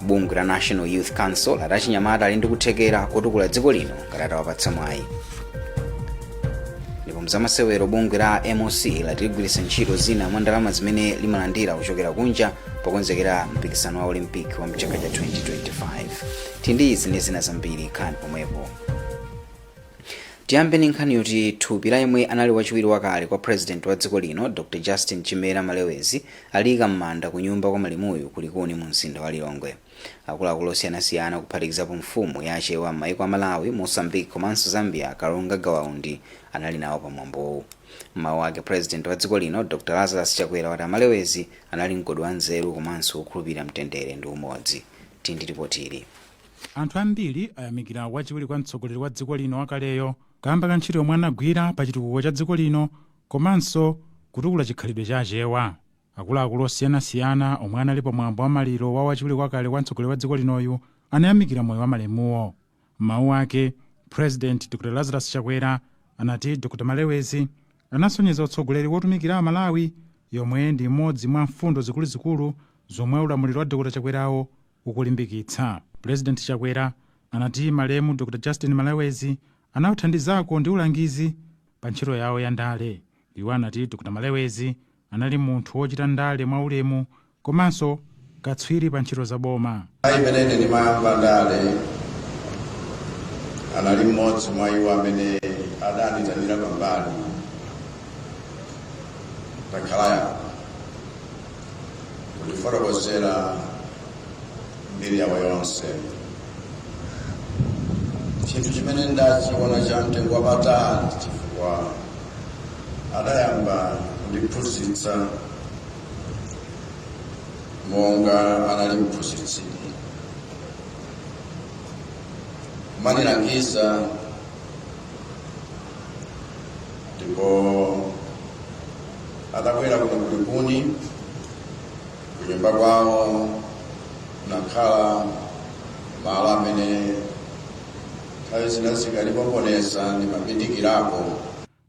bungwe la national youth council lati achinyamata ali ndi kuthekera kotukula dziko lino ngati atawapatsa mwayi ndipo mzamasewero bungwe la moc lati ligwiritsa ntchito zina mwa ndalama zimene limalandira kuchokera kunja pokonzekera mpikisano wa olympic wa mchaka cha 2025 tili ndi izi ndi zina zambiri khalani pomwepo tiyambe ndi nkhani yoti thupi la yemwe anali wachiwiri wakale kwa president wa dziko lino dr justin chimera malewezi Aliika m'manda kunyumba kwa malemuyu ku Likuni mu mzinda wa Lilongwe. Akuluakulu osiyanasiyana kuphatikizapo mfumu ya Achewa m'maiko a Malawi, Mozambique komanso Zambia Kalonga Gawa Undi anali nawo pa mwambowu. M'mawu ake President wa dziko lino Dr Lazarus Chakwera wati a Malewezi anali mgodi wa nzeru komanso wokhulupilira mtendere ndi umodzi. Tili ndi lipoti ili. Anthu ambiri ayamikira wachiwiri kwa mtsogoleri wa dziko lino wakaleyo kaamba ka ntchito yomwe anagwira pa chitukuko cha dziko lino komanso kutukula chikhalidwe cha Achewa. Akuluakulu osiyanasiyana omwe anali pa mwambo wa maliro wa wachiwiri wakale kwa mtsogoleri wa dziko linoyu anayamikira moyo wa malemuwo. M'mawu ake, President Dr Lazarus Chakwera anati Dr Malewezi anasonyeza utsogoleri wotumikira a Malawi yomwe ndi imodzi mwa mfundo zikuluzikulu zomwe ulamuliro wa Dr Chakwerawo ukulimbikitsa. President Chakwera anati malemu Dr Justin Malewezi anawathandizako ndi ulangizi, pa ntchito yawo ya ndale. Iwo anati Dr Malewezi anali munthu wochita ndale mwa ulemu komanso katswiri pa ntchito za boma. Nthawi imene ine ndimayamba ndale, anali mmodzi mwa iwo amene adandiitanira pambali takhala apa. kundifotokozera mbiri yawo yonse chinthu chimene ndidachiona cha mtengo wapatali chifukwa adayamba kundiphunzitsa monga anali mphunzitsi kumanilangiza ndipo Atabwera kuno ku Likuni, kunyumba kwawo kunakhala malo amene nthawi zina zikalipoponesa ndimabindikirako.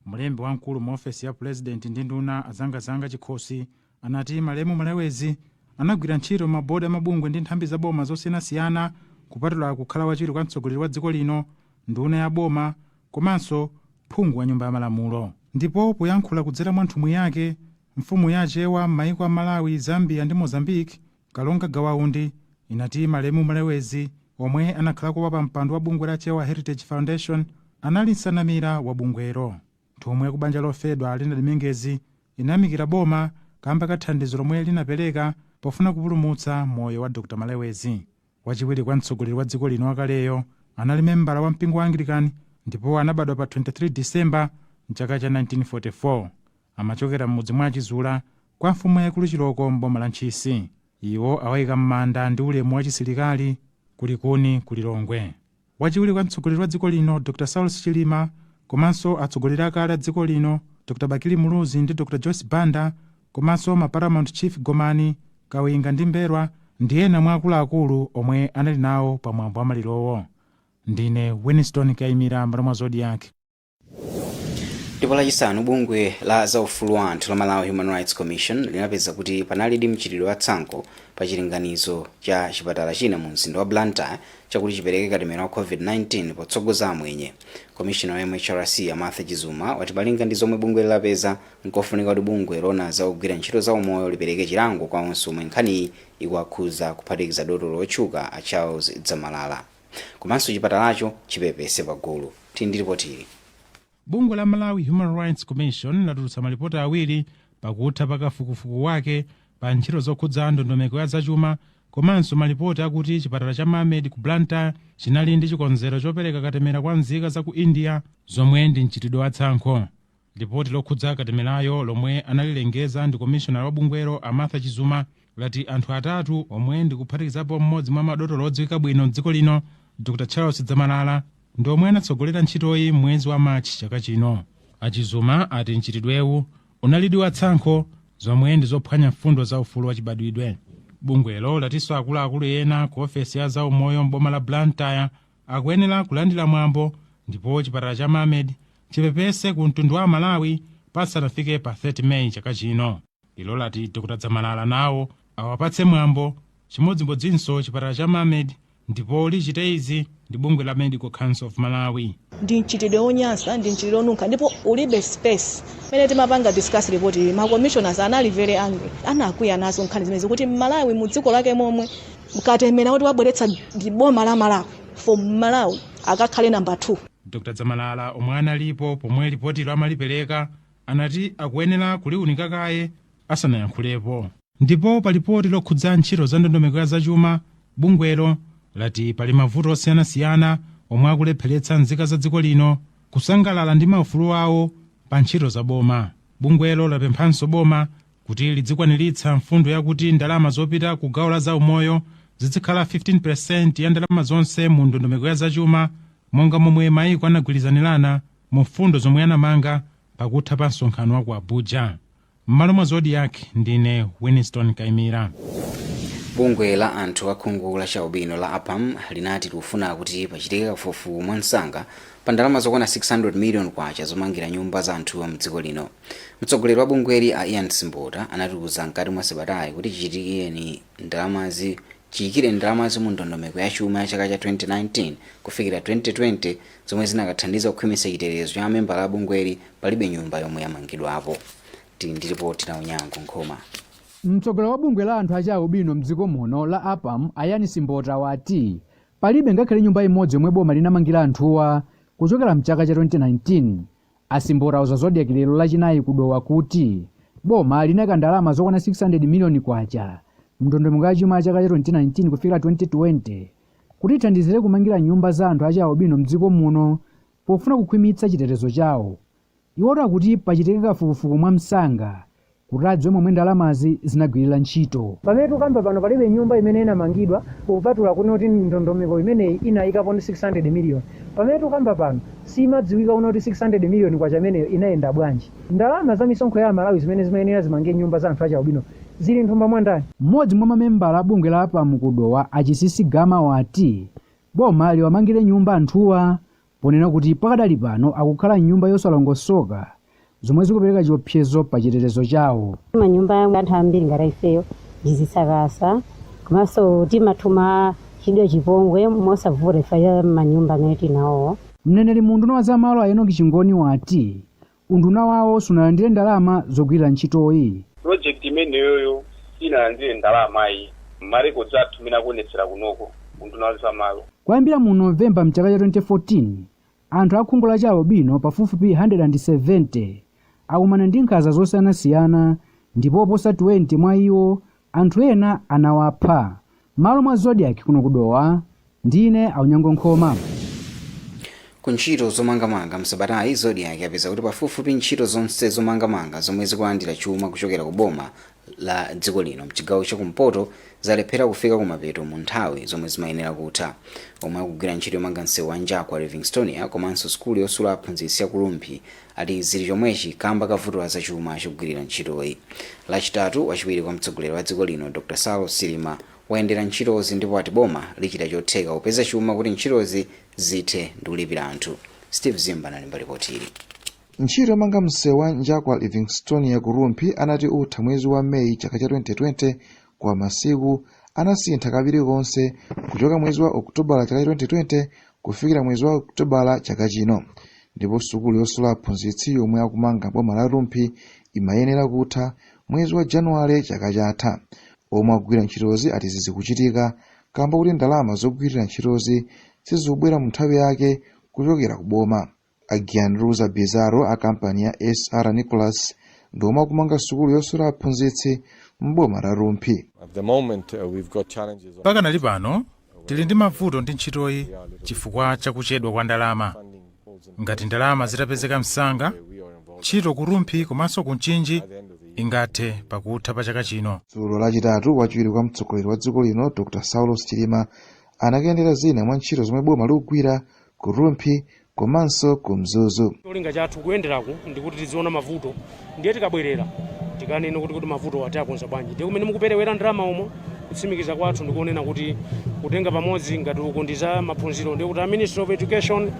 Mlembi wamkulu mu ofesi ya pulezidenti ndi nduna a Zangazanga Chikhosi anati malemu Malewezi anagwira ntchito m'mabodi a mabungwe ndi nthambi za boma zosiyanasiyana kupatula kukhala wachiwiri kwa mtsogoleri wa dziko lino, nduna ya boma, komanso phungu wa nyumba ya malamulo. Ndipo poyankhula kudzera mwa nthumwi yake, mfumu ya Achewa m'maiko a Malawi, Zambia ndi Mozambique, Kalonga Gawa Undi, inati malemu Malewezi, omwe anakhalako wapampando wa bungwe la Chewa Heritage Foundation, anali nsanamira wa bungwelo. Nthumwi ya ku banja lofedwa a Leonard Mengezi inayamikira boma kamba ka thandizo lomwe linapereka pofuna kupulumutsa moyo wa Dr Malewezi. Wachiwiri kwa mtsogoleri wa dziko lino wakaleyo anali membala wa mpingo wa Anglican ndipo anabadwa pa 23 December m'chaka cha 1944. Amachokera m'mudzi mwa a Chizula kwa mfumu yaikulu Chilooko m'boma la Ntchisi. Iwo awaika m'manda ndi ulemu wachisilikali ku Likuni ku Lilongwe. Wachiwiri kwa mtsogoleri wa dziko lino, Dr Saulos Chilima, komanso atsogoleri akale a dziko lino, Dr Bakili Muluzi ndi Dr Joyce Banda, komanso ma Paramount Chief Gomani, Kawinga ndi Mbelwa, ndi ena mwa akuluakulu omwe anali nawo pa mwambo wa malirowo. Ndine Winstone Kaimira, Mbali mwa Zodiak. ndipo lachisanu bungwe la zaufulu wa anthu la malawi human rights commission linapeza kuti panalidi mchitidwe wa tsankho pa chilinganizo cha chipatala china mu mzinda wa blantyre chakuti chipereke katemera wa covid-19 potsogoza amwenye komishina wa mhrc a martha chizuma wati malinga ndi zomwe bungweli lapeza nkofunika kuti bungwe loona za ogwira ntchito za umoyo lipereke chilango kwa onse omwe nkhaniyi ikuwakhudza kuphatikiza dotolo wotchuka a charles dzamalala Komanso chipatalacho chipepese pagulu. Tili ndi lipoti ili. Bungwe la Malawi Human Rights Commission latulutsa malipoti awiri pakutha pa kafukufuku wake pa ntchito zokhudza ndondomeko ya zachuma komanso malipoti akuti chipatala cha Mamed ku Blantyre chinali ndi chikonzero chopereka katemera kwa nzika za ku India zomwe ndi mchitidwe wa tsankho. Lipoti lokhudza katemerayo lomwe analilengeza ndi komishonala wa bungwelo a Martha Chizuma lati anthu atatu omwe ndi kuphatikizapo mmodzi mwa madotolo odziwika bwino m'dziko lino Dr Charles Dzamalala ndi omwe anatsogolera ntchitoyi m'mwezi wa March chaka chino. A Chizuma ati mchitidwewu unalidi wa tsankho zomwe ndi zophwanya mfundo za ufulu wachibadwidwe. Bungwelo latinso akuluakulu ena ku ofesi ya zaumoyo m'boma la Blantyre akuyenera kulandira mwambo ndipo chipatala cha Mamed chipepese ku mtundu wa Amalawi pasanafike pa 30 May chaka chino. Ilo lati Dr Dzamalala nawo awapatse mwambo chimodzimodzinso chipatala cha Mamed ndipo lichite izi ndi bungwe la Medical Council of Malawi. ndi mchitidwe wonyansa ndi mchitidwe wonunkha ndipo ulibe space pamene timapanga discuss report iyi ma commissioners anali very angry anakwiya nazo nkhani zimenezi kuti mmalawi mu dziko lake momwe mkatemera kuti wabweretsa ndi boma la malawi for malawi akakhale namba 2 dr dzamalala omwe analipo pomwe lipotilo amalipereka anati akuyenera kuliunika kaye asanayankhulepo ndipo pa lipoti lokhudza ntchito za ndondomeko ya zachuma bungwelo lati pali mavuto osiyanasiyana omwe akulepheretsa nzika za dziko lino kusangalala ndi maufulu awo pa ntchito za boma bungwelo lapemphanso boma Kuti lidzikwaniritsa mfundo yakuti ndalama zopita ku gawo la zaumoyo zidzikhala 15 peresenti ya ndalama zonse mu ndondomeko ya zachuma monga momwe maiko anagwirizanirana mu mfundo zomwe anamanga pakutha pa msonkhano wa ku Abuja. M'malo mwa Zodiak ndine Winston Kaimira. bungwe la anthu a khungu la chialubino la apam linati likufuna kuti pachitike kafukufuku mwamsanga pa ndalama zokwana 600 million kwacha zomangira nyumba za anthuwa mdziko lino Mtsogoleri wa bungweli a Ian Simbota anatiuza mkati mwa sabatayi kuti chiyikireni ndalamazi mu ndondomeko ya chuma ya chaka cha 2019 kufikira 2020 zomwe zinakathandiza kukhwimitsa chitetezo cha mamembala a bungweli palibe nyumba yomwe yamangidwapo. Tili ndi ripoti la Onyango Nkhoma. Mtsogoleri wa bungwe la anthu a chialubino m'dziko muno la APAM a Ian Simbota wati palibe ngakhale nyumba imodzi yomwe boma linamangira anthuwa kuchokera mchaka cha 2019 A Simbota auza Zodiak lero lachinayi ku Dowa kuti boma linayika ndalama zokwana K600 miliyoni mndondomeko ya chuma ya chaka cha 2019 kufikira 2020 kuti ithandizire kumangira nyumba za anthu achialubino mdziko muno pofuna kukhwimitsa chitetezo chawo. Iwo ati pachitike kafukufuku mwamsanga kuti adziwe momwe ndalamazi zinagwirira ntchito. Pamene tukamba pano palibe nyumba imene inamangidwa kupatula kunena kuti ndondomeko imeneyi inayikapo ndi 600 million. Pamene tukamba pano simadziwika kunena kuti 600 million kwacha imeneyo inayenda bwanji. Ndalama za misonkho ya amalawi zimene zimayenera zimange nyumba za anthu achialubino zili nthumba mwa ndani? M'modzi mwa mamembala a bungwe la apam ku Dowa a Chisisi Gama wati boma liwamangire nyumba anthuwa ponena kuti pakadali pano akukhala m'nyumba yosalongosoka zomwe zikupereka chiopsezo pa chitetezo chawo. Manyumba ya anthu ambiri ngati ifeyo ndi zisakasa komanso timatha kuchitidwa chipongwe mosavuta chifukwa cha manyumba amene tili nawowo. Mneneri mu unduna wa za malo a Enock Chingoni wati Unduna wawo sunalandire ndalama zogwirira ntchitoyi. Project imeneyoyo siinalandire ndalama ayi. Ma records athu mmene akuonetsera kunoko, unduna wa za malo. Kuyambira mu November mchaka cha 2014, anthu a khungu la chialubino pafupifupi 170 akumana ndi nkhanza zosiyanasiyana ndipo oposa 20 mwa iwo Anthu ena anawapha. Malo mwa Zodiak kuno ku Dowa ndine Unyango Nkhoma. Ku ntchito zomangamanga msabatayi, Zodiak yapeza kuti pafupifupi ntchito zonse zomangamanga zomwe zikulandira chuma kuchokera ku boma la dziko lino mchigawo cha kumpoto zalephera kufika kumapeto mu nthawi zomwe zimayenera kutha. Omwe akugwira ntchito yomanga msewu wa Njakwa-Livingstonia komanso sukulu yosula aphunzitsi ya ku Rumphi ati zili chomwechi kamba ka vuto la zachuma chogwilira ntchitoyi. Lachitatu, wachiwiri kwa mtsogoleri wa dziko lino Dr Saulos Chilima wayendera ntchitozi ndipo ati boma lichita chotheka kupeza chuma kuti ntchitozi zithe ndikulipira anthu. Steve Zimba analemba lipoti ili. Ntchito yomanga msewu wa Njakwa Livingstonia ku Rumphi anati utha mwezi wa May chaka cha 2020 koma masiku anasintha kabiri konse kuchoka mwezi wa okutobala chaka cha 2020 kufikira mwezi wa okutobala chaka chino ndipo sukulu yosula aphunzitsi yomwe akumanga m'boma la rumphi imayenera kutha mwezi wa januwale chaka chatha omwe akugwira ntchitozi ati izi zikuchitika kamba kuti ndalama zogwirira ntchitozi sizikubwera mu nthawi yake kuchokera ku boma a gianluca bizarro a kampani ya sr nicholas ndi omwe akumanga sukulu yosula aphunzitsi m'boma la rumphi At the moment, uh, we've got challenges. of- pakanali pano tili ndi mavuto ndi ntchitoyi chifukwa cha kuchedwa kwa ndalama ngati ndalama zitapezeka msanga ntchito ku rumphi komanso ku mchinji ingathe pakutha pa chaka chino dzulo lachitatu wachiwiri kwa mtsogoleri wa dziko lino dr saulos chilima anakayendera zina mwa ntchito zomwe boma likugwira ku rumphi komanso ku mzuzu cholinga chathu kuyenderaku ndikuti tiziona mavuto ndiye tikabwerera tikanene kuti mavutowa tiakonza bwanji ndiye kumene mukuperewera ndalama umo kutsimikiza kwathu ndikunena kuti kutenga pamodzi ngati uku ndi za maphunziro ndiye kuti a ministry of education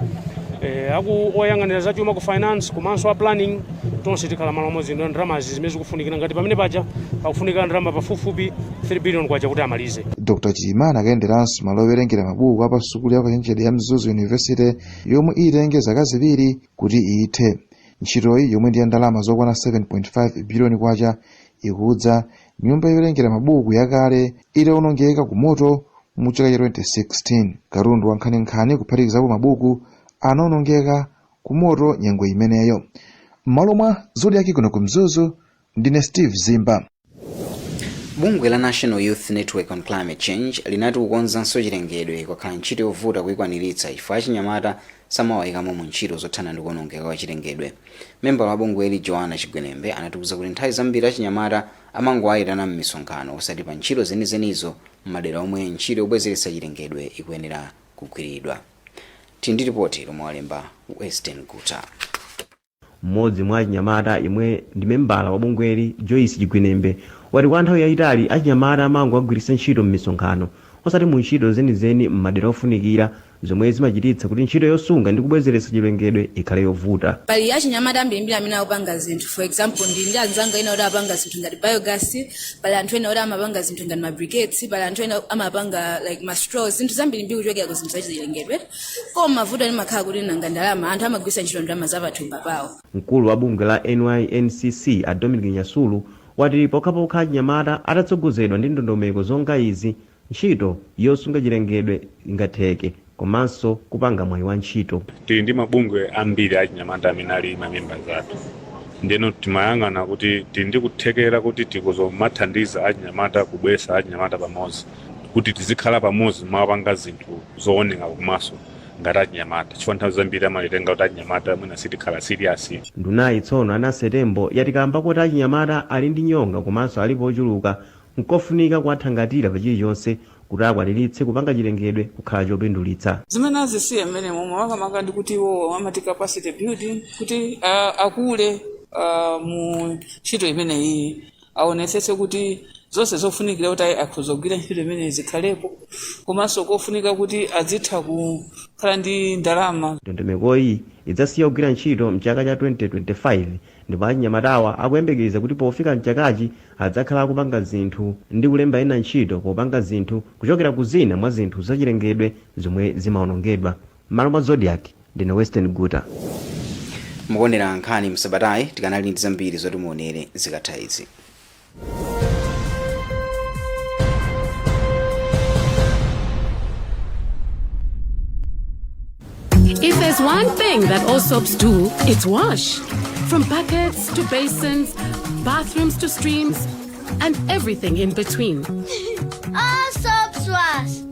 eh, aku oyang'anira za chuma ku finance komanso a planning tonse tikhala malo amodzi ndo ndalamazi zimene zikufunikira ngati pamene paja pakufunika ndalama pafupifupi 3 billion kwacha kuti amalize dr chilima anakayenderanso malo owerengera mabuku a pa sukulu ya ukachenjede ya mzuzu university yomwe itenge zaka ziwiri kuti ithe ntchitoyi yomwe ndi ya ndalama zokwana 7.5 biliyoni kwacha ikudza nyumba yowerengera mabuku yakale itawonongeka ku moto mu chaka cha 2016 katundu wa nkhaninkhani kuphatikizapo mabuku anawonongeka ku moto nyengo imeneyo m'malo mwa zodiaki kuno ku mzuzu Ndine Steve Zimba. Bungwe la National Youth Network on Climate Change linati kukonzanso chilengedwe kwakhala ntchito yovuta kuikwaniritsa chifukwa achinyamata samawayikamo mu ntchito zothana ndi kuonongeka kwa chilengedwe. Membala wa bungweli Joanna Chigwenembe anatiuza kuti nthawi zambiri achinyamata amangowayitana m'misonkhano osati pa ntchito zenizenizo m'madera omwe ntchito yobwezeretsa chilengedwe ikuyenera kugwiridwa. Tili ndi lipoti lomwe walemba Western Guta. Mmodzi mwa achinyamata yemwe ndi membala wa bungweli, Joyce Chigwenembe, wati kwa nthawi yayitali achinyamata amangowagwiritsa ntchito m'misonkhano osati mu ntchito zenizeni m'madera ofunikira zomwe zimachititsa kuti ntchito yosunga ndi kubwezeretsa chilengedwe ikhale yovuta. Pali achinyamata ambirimbiri amene akupanga zinthu for example ndili ndi anzanga ena oti apanga zinthu ngati biogas, pali anthu ena oti amapanga zinthu ngati ma briquettes, pali anthu ena amapanga like ma straws, zinthu zambirimbiri kuchokera ku zinthu zachilengedwe. koma mavuto amakhala kuti nanga ndalama anthu amagwiritsa ntchito ndalama za pathumba pawo mkulu wa bungwe la nyncc a dominic nyasulu wati pokhapokha achinyamata atatsogozedwa ndi ndondomeko zonga izi ntchito yosunga chilengedwe ingatheke komanso kupanga mwayi wa ntchito tili ndi mabungwe ambiri achinyamata amene ali mamembaz athu ndeno timayang'ana kuti tili ndi kuthekera kuti tikuzomathandiza achinyamata kubwesa achinyamata pamodzi kuti tizikhala pamodzi kumapanga zinthu zooneka kumaso ngati achinyamata chifukwa nthawi zambiri amatitenga kuti achinyamata mwina sitikhala serious Ndunayi tsono a Nancy Tembo yati kaamba koti achinyamata ali ndi nyonga komanso alipo ochuluka, nkofunika kuwathangatira pa chilichonse kuti akwaniritse kupanga chilengedwe kukhala chopindulitsa. Zimene azisiya mmenemo makamaka ndi kuti iwowo amati capacity building kuti a, akule a, mu ntchito imeneyiyi. aonetsetse kuti zonse zofunikira kuti ayi akhoza kugwira ntchito imeneyi zikhalepo komanso kofunika kuti azitha kukhala ndi ndalama ndondomekoyi idzasiya kugwira ntchito mchaka cha 2025 ndipo achinyamatawa akuyembekeza kuti pofika mchakachi adzakhala akupanga zinthu ndi kulemba ena ntchito popanga zinthu kuchokera ku zina mwa zinthu zachilengedwe zomwe zimaonongedwa M'malo mwa Zodiak, ndine Western Guta. Mukuonera nkhani msabatayi tikanali ndi zambiri zoti muonere zikatha izi. If there's one thing that all soaps do, it's wash. From buckets to basins, bathrooms to streams, and everything in between. All soaps wash.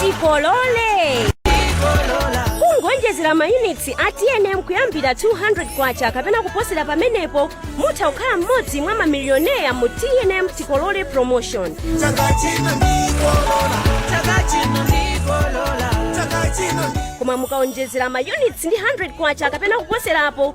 tikolole kungonjezera mayunitsi a tnm kuyambira 200 kwacha kapena kuposera pamenepo mutha kukhala mmodzi mwa mamiliyoneya mu tnm tikolole promotion koma mukaonjezera mayunitsi ndi 100 kwacha kapena kuposerapo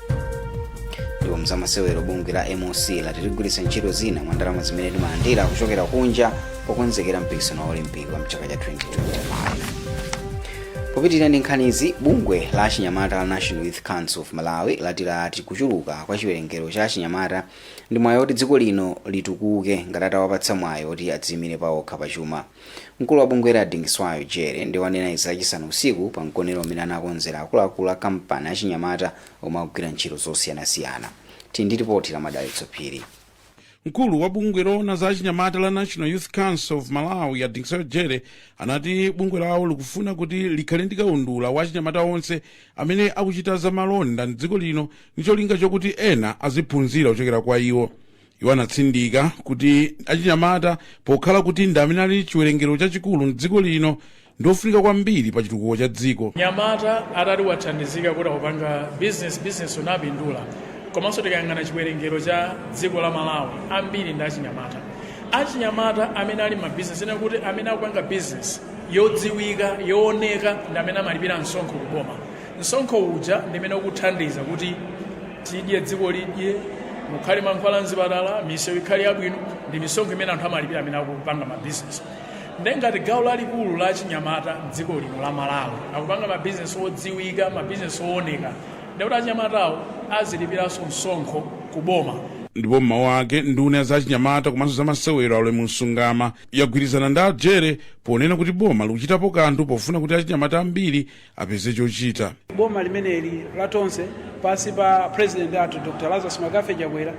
ndipo mzamasewero bungwe la moc lati ligwiritsa ntchito zina mwa ndalama zimene limalandira kuchokera kunja pokonzekera mpikisano wa olimpiki wa mchaka cha 2025 popitirira ndi nkhanizi bungwe la achinyamata la national youth council of malawi lati lati kuchuluka kwa chiwerengero cha achinyamata ndi mwayi woti dziko lino litukuke ngati atawapatsa mwayi woti adziyimire pawokha pachuma Mkulu wa bungweli a Dingiswayo Jere ndiwo anena izi lachisanu usiku pa mgonero umene anakonzera akuluakulu a kampani, achinyamata omwe akugwira ntchito zosiyanasiyana. Tili ndi lipoti la Madalitso Phiri. Mkulu wa bungwe loona za achinyamata la National Youth Council of Malawi a Dingiswayo Jere anati bungwe lawo likufuna kuti likhale ndi kaundula wa achinyamata onse amene akuchita za malonda m'dziko lino ndi cholinga chokuti ena aziphunzira kuchokera kwa iwo. iwo anatsindika kuti achinyamata pokhala kuti ndi amene ali chiwerengero chachikulu mdziko lino ndi ofunika kwambiri pa chitukuko cha dziko mnyamata atati wathandizika kuti akupanga bizinesi bizinesi unapindula komanso tikayang'ana chiwerengero cha dziko la malawi ambiri ndi achinyamata achinyamata amene ali m'mabizinesi kunena kuti amene akupanga bizinesi yodziwika yooneka ndi amene amalipira msonkho kuboma msonkho uja ndi umene ukuthandiza kuti tidye dziko lidye mukhale mankhwala mzipatala misewu ikhale yabwino ndi misonkho imene anthu amalipira amene akupanga mabizinesi nde ngati gawo lalikulu la achinyamata mdziko lino la malawi akupanga mabizinesi odziwika mabizinesi ooneka ndekuti achinyamatawo azilipiranso msonkho ku boma ndipo m'mawu ake nduna ya za achinyamata komanso za masewero a ulemu msungama yagwirizana ndi a jere ponena kuti boma likuchitapo kanthu pofuna kuti achinyamata ambiri apeze chochita. Boma limeneli la Tonse pansi pa president athu Dr. Lazarus McCarthy Chakwera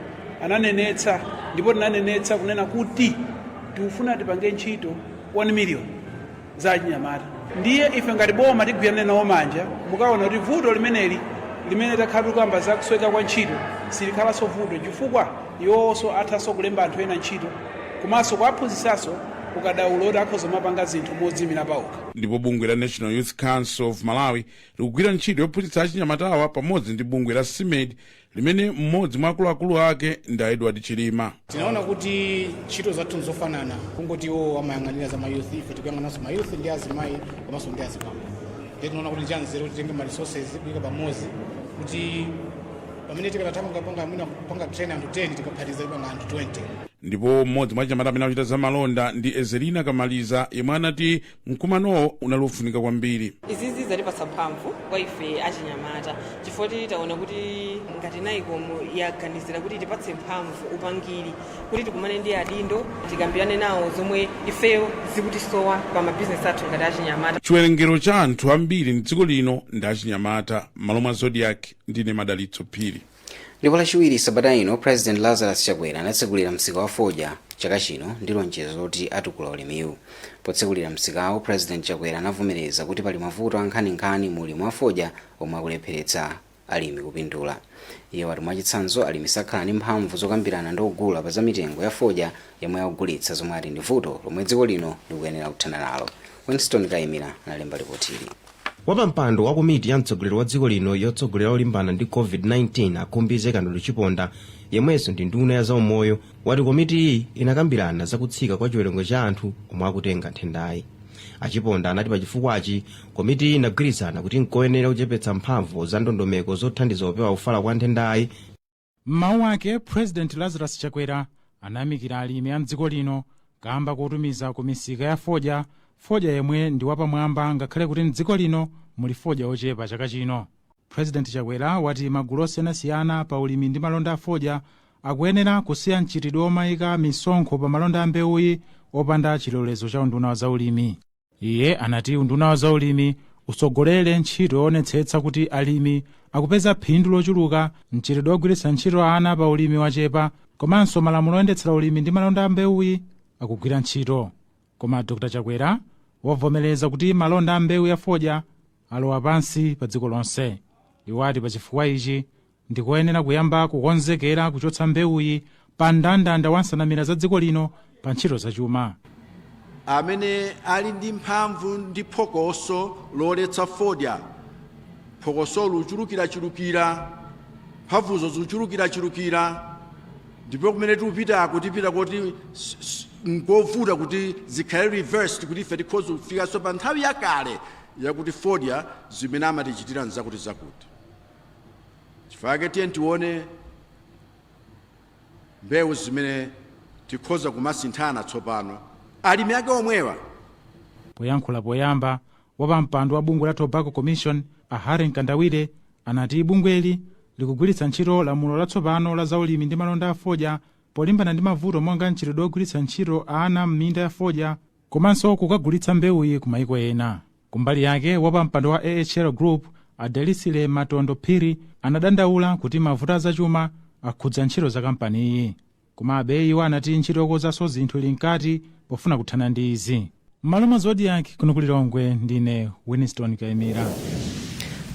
ananenetsa ndipo tinanenetsa kunena kuti tikufuna tipange ntchito 1 million za achinyamata. Ndiye ife ngati boma tigwirane nawo manja pokaona kuti vuto limeneli limene takhala tikukamba za kusowa kwa ntchito silikhalanso vuto chifukwa iwowonso athanso kulemba anthu ena ntchito komanso kuwaphunzitsanso ukadaulo kuti akhoza kumapanga zinthu modziimira pawokha. ndipo bungwe la national youth council of malawi likugwira ntchito yophunzitsa achinyamatawa pamodzi ndi bungwe la smedi limene mmodzi mwa akuluakulu ake ndi a edward chilima tinaona kuti ntchito zathu nzofanana kungoti iwo amayang'anira za mayouth ife tikuyang'ananso mayouth ndi azimayi komanso ndi azibambo ndiye tinaona kuti ndi chanzeru kuti titenge ma resources kuyika pamodzi kuti pamene tikanatha kungopanga mwina kupanga train anthu 10 tikaphatiza tipanga anthu 20 ndipo mmodzi mwa achinyamata amene akuchita za malonda ndi ezelina kamaliza yemwe anati mkumanowo unali wofunika kwambiri izizi zatipatsa mphamvu kwa ife achinyamata chifukwa taona kuti ngati nycom yaganizira kutipatsa mphamvu upangiri kuti tikumane ndi adindo tikambirane nawo zomwe ifeyo zikutisowa pa mabizinesi athu ngati achinyamata chiwerengero cha anthu ambiri mdziko lino ndi achinyamata m'malo mwa zodiak ndine madalitso phiri ndipo lachiwiri sabata ino president lazarus chakwera anatsekulira msika wa fodya chaka chino ndi lonjezo loti atukula ulimiwu potsekulira msikawo president chakwera anavomereza kuti pali mavuto ankhaninkhani mu ulimi wa fodya omwe akulepheretsa alimi kupindula iye wati mwachitsanzo alimi sakhala ndi mphamvu zokambirana ndi ogula pa za mitengo ya fodya yomwe akugulitsa zomwe ati ndi vuto lomwe dziko lino likuyenera kuthana nalo winston kaimira analemba lipotili Wapampando wa komiti ya mtsogoleri wa dziko lino yotsogolera kulimbana ndi COVID-19 a Khumbize Kandodo Chiponda yemwenso ndi nduna ya zaumoyo wati komitiyi inakambirana za kutsika kwa chiwerengero cha anthu omwe akutenga nthendayi. A Chiponda anati pa chifukwachi komitiyi inagwirizana kuti nkoyenera kuchepetsa mphamvu za ndondomeko zothandiza kupewa kufala kwa nthendayi M'mawu ake, President Lazarus Chakwera anayamikira alimi a m'dziko lino kaamba kotumiza ku misika ya fodya, fodya yemwe ndi wapamwamba ngakhale kuti m'dziko lino muli fodya ochepa chaka chino. President Chakwera wati magulu osiyanasiyana pa ulimi ndi malonda a fodya akuyenera kusiya mchitidwe omayika misonkho pa malonda a mbewuyi opanda chilolezo cha unduna wa za ulimi. Iye anati unduna wa zaulimi utsogolere ntchito yoonetsetsa kuti alimi akupeza phindu lochuluka, mchitidwe wogwiritsa ntchito ana pa ulimi wachepa komanso malamulo oyendetsera ulimi ndi malonda a mbewuyi akugwira ntchito. Koma Dr Chakwera wavomereza kuti malonda a mbewu ya fodya alowa pansi padziko lonse. Iwo ati pachifukwa ichi Ndikoyenera kuyamba kukonzekera kuchotsa mbewuyi pa mndandanda wa nsanamira za dziko lino pa ntchito za chuma. amene ali ndi mphamvu ndi phokoso loletsa fodya phokosolo lichulukirachulukira mphamvuzo zikuchulukirachulukira ndipo kumene tikupitako tipita koti s- s- nkovuta kuti zikhale reversed kuti ife tikhoza kufikanso pa nthawi yakale yakuti fodya zimene amatichitira nzakuti zakuti chifukwa chake tiyeni tione mbewu zimene tikhoza kumasinthana tsopano alimi ake omwewa poyankhula poyamba wapampando wa bungwe la tobacco commission a harry mkandawire anati bungweli likugwiritsa ntchito lamulo latsopano la zaulimi ndi malonda a fodya polimbana ndi mavuto monga mchitidwe wogwiritsa ntchito ana m'minda ya fodya komanso kukagulitsa mbewuyi ku maiko ena kumbali yake wapampando wa ahl group a delisile matondo phiri anadandaula kuti mavuto azachuma akhudza ntchito za kampaniyi komabe iwo anati ntchito yokonzanso zinthu ili mkati pofuna kuthana ndi izi m'malo mwa zodiak kuno ku lilongwe ndine winston kaimira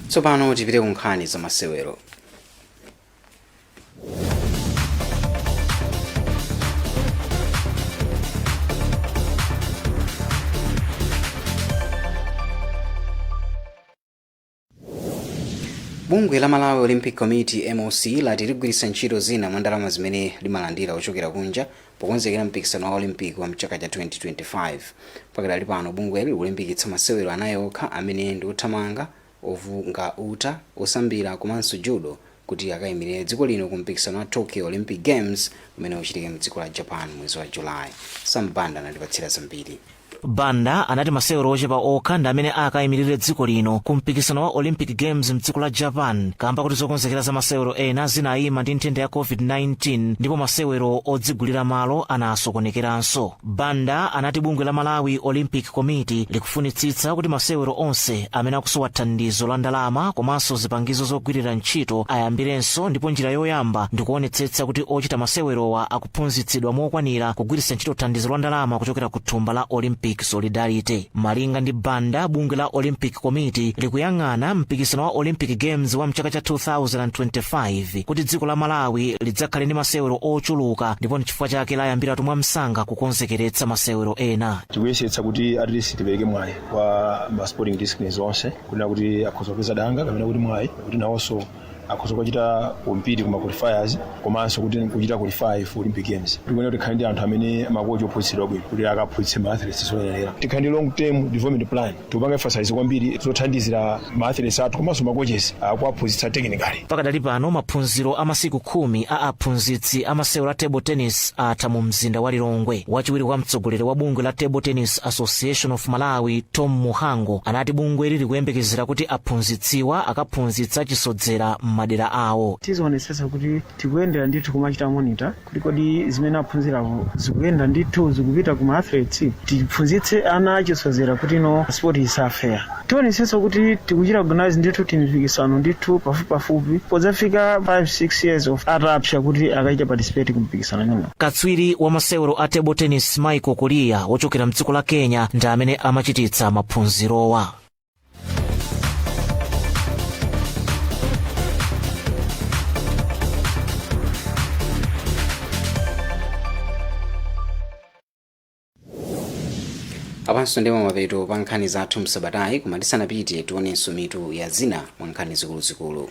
tsopano tipite ku nkhani za masewero bungwe la malawi olympic committee moc lati ligwiritsa ntchito zina mwa ndalama zimene limalandira kuchokera kunja pokonzekera mpikisano wa olympic wa mchaka cha 2025 pakadali pano bungweli likulimbikitsa masewero anayi okha amene ndi othamanga ovunga uta osambira komanso Judo kuti akaimilire dziko lino ku mpikisano wa Tokyo Olympic Games umene uchitike mdziko la Japan mwezi wa July. Sam Banda anatipatsira zambiri. Banda anati masewero ochepa okha ndi amene akaimilire dziko lino ku mpikisano wa Olympic Games mdziko la Japan kamba kuti zokonzekera za masewero ena zinaima ndi nthenda ya COVID-19 ndipo masewero odzigulira malo anasokonekeranso. banda anati bungwe la malawi olympic committee likufunitsitsa kuti masewero onse amene akusowa thandizo la ndalama komanso zipangizo zogwirira ntchito ayambirenso ndipo njira yoyamba ndikuonetsetsa kuti ochita masewerowa akuphunzitsidwa mokwanira kugwiritsa ntchito thandizo la ndalama kuchokera ku thumba la olympic solidarity malinga ndi banda bungwe la olympic committee likuyang'ana mpikisano wa olympic games wa mchaka cha 2025 kuti dziko la malawi lidzakhale ndi masewero ochuluka ndipo chifukwa chake layambiratu mwamsanga kukonzekeretsa masewero ena tikuyesetsa kuti at least tipereke mwayi kwa ma sporting disciplines onse kunena kuti akhoza kupeza danga kapena kuti mwayi kuti nawonso akhoza kuchita compete kuma qualifiers komanso kuti kuchita qualify for olympic games tikuyenera tikhale ndi anthu amene makochi ophunzitsidwa bwino kuti akaphunzitse ma athletes zoyenera tikhale ndi long term development plan tupanga emphasize kwambiri zothandizira ma athletes athu komanso ma coaches akuwaphunzitsa technically pakadali pano maphunziro a masiku khumi a aphunzitsi a masewero a table tennis atha mu mzinda wa lilongwe wachiwiri kwa mtsogoleri wa bungwe la table tennis association of malawi tom muhango anati bungweli likuyembekezera kuti aphunzitsiwa akaphunzitsa achisodzera m'madera awo tizionetsetsa kuti tikuyendera ndithu kumachita monitor kuti kodi zimene aphunzirawo zikuyenda ndithu zikupita kuma athletes tiphunzitse ana achisodzera kuti no sport isafe ayi tionetsetsa kuti tikuchita organize ndithu timipikisano ndithu pafupipafupi podzafika 5-6 years ali atapsa kuti akachite participate ku mpikisano imenewo katswiri wa masewero a table tennis michael kuliya wochokera mdziko la kenya ndi amene amachititsa maphunzirowa apanso ndi pamapeto pa nkhani zathu msabatayi koma tisanapite tionenso mitu ya zina mwa nkhani zikuluzikulu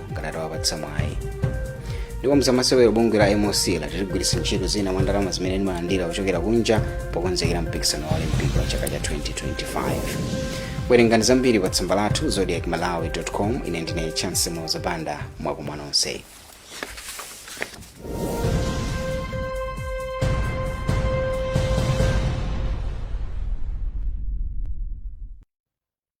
ngati atawapatsa mwayi ndipo mzamasewero bungwe la moc lati ligwiritsa ntchito zina mwa ndalama zimene limalandira kuchokera kunja pokonzekera mpikisano wa olimpiki wa chaka cha 2025 werengani zambiri pa tsamba lathu zodiac malawi com ine ndine chance moza banda mwakoma nonse